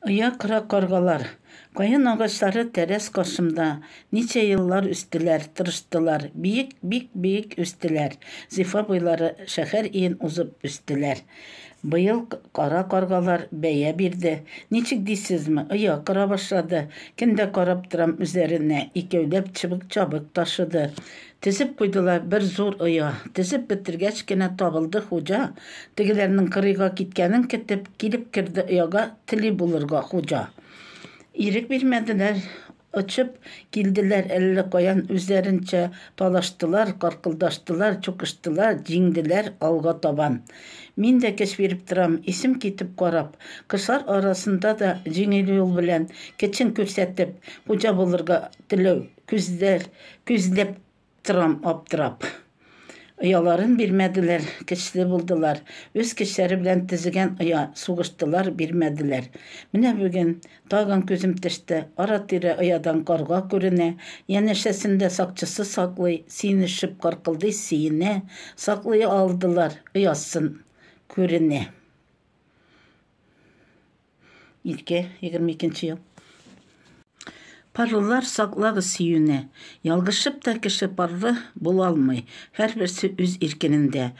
Оя кыра каргалар. Каен агачлары тәрәз каршымда ничә еллар үстеләр, тырыштылар, биек, бик биек үстеләр. Зифа буйлары шәһәр иен узып үстеләр. Быел кара каргалар бәя бирде. Ничек дисезме, оя кыра башлады. Көн дә карап торам үзләренә, икәүләп чыбык-чабык ташыды. Тезеп куйдылар бер зур оя. Тезеп бетергәч кенә табылды хуҗа, Тегеләрнең кырыйга киткәнен көтеп, килеп керде ояга Тели булырга хуҗа. Ирек бирмәделәр, очып килделәр әллә каян Үзләренчә талаштылар, каркылдаштылар, чукыштылар, җиңделәр алга табан. Мин дә көч биреп торам, исем китеп карап, Кошлар арасында да җиңел юл белән, Көчен күрсәтеп, хуҗа булырга теләү. Күзләр, күзләп торам аптырап. Ояларын бирмәделәр, көчле булдылар. Үз көчләре белән төзегән оя, сугыштылар, бирмәделәр. Менә бүген, тагын күзем төште, ара-тирә оядан карга күренә, янәшәсен дә сакчысы саклый, сөенешеп каркылдый, сөенә, саклый алдылар, оясын күренә. Илке, 22 ел. Парлылар саклагыз сөюне. Ялгышып та кеше парлы булалмый. Һәрберсе үз иркенендә.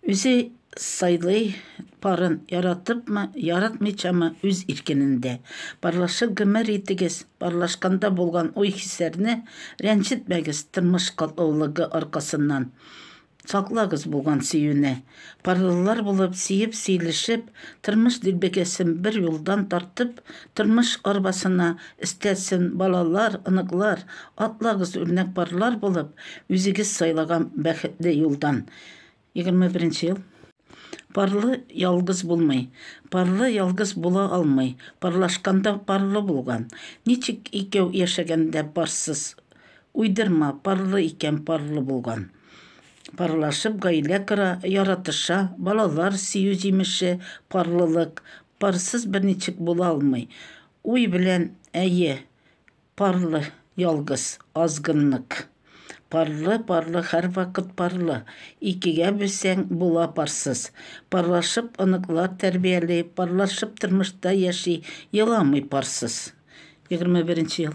Үзе сайлый парын яратыпмы, яратмыйчамы үз иркенендә. Парлашып гомер итегез, парлашканда булган уй-хисләрне рәнҗетмәгез тормыш катлаулыгы аркасыннан. Саклагыз булган сөюне. Парлылар булып, сөеп-сөйлешеп, тормыш дилбегәсен бер юлдан тартып, тормыш арбасына өстәтсен балалар, оныклар, атлагыз үрнәк парлар булып, үзегез сайлаган бәхетле юлдан. Егерме беренче ел. Парлы ялгыз булмый. Парлы ялгыз була алмый. Парлашканда парлы булган. Ничек икәү яшәгәндә парсыз? Уйдырма, парлы икән парлы булган. Парлашып гаилә кора, яратыша, балалар сөю җимеше, парлылык. Парсыз берничек була алмый. Уй белән, әйе, Парлы, ялгыз, азгыннык. Парлы, парлы, һәрвакыт парлы. Икегә бүлсәң, була парсыз. Парлашып оныклар тәрбияли, парлашып тормышта яши, еламый парсыз. Егерме беренче ел.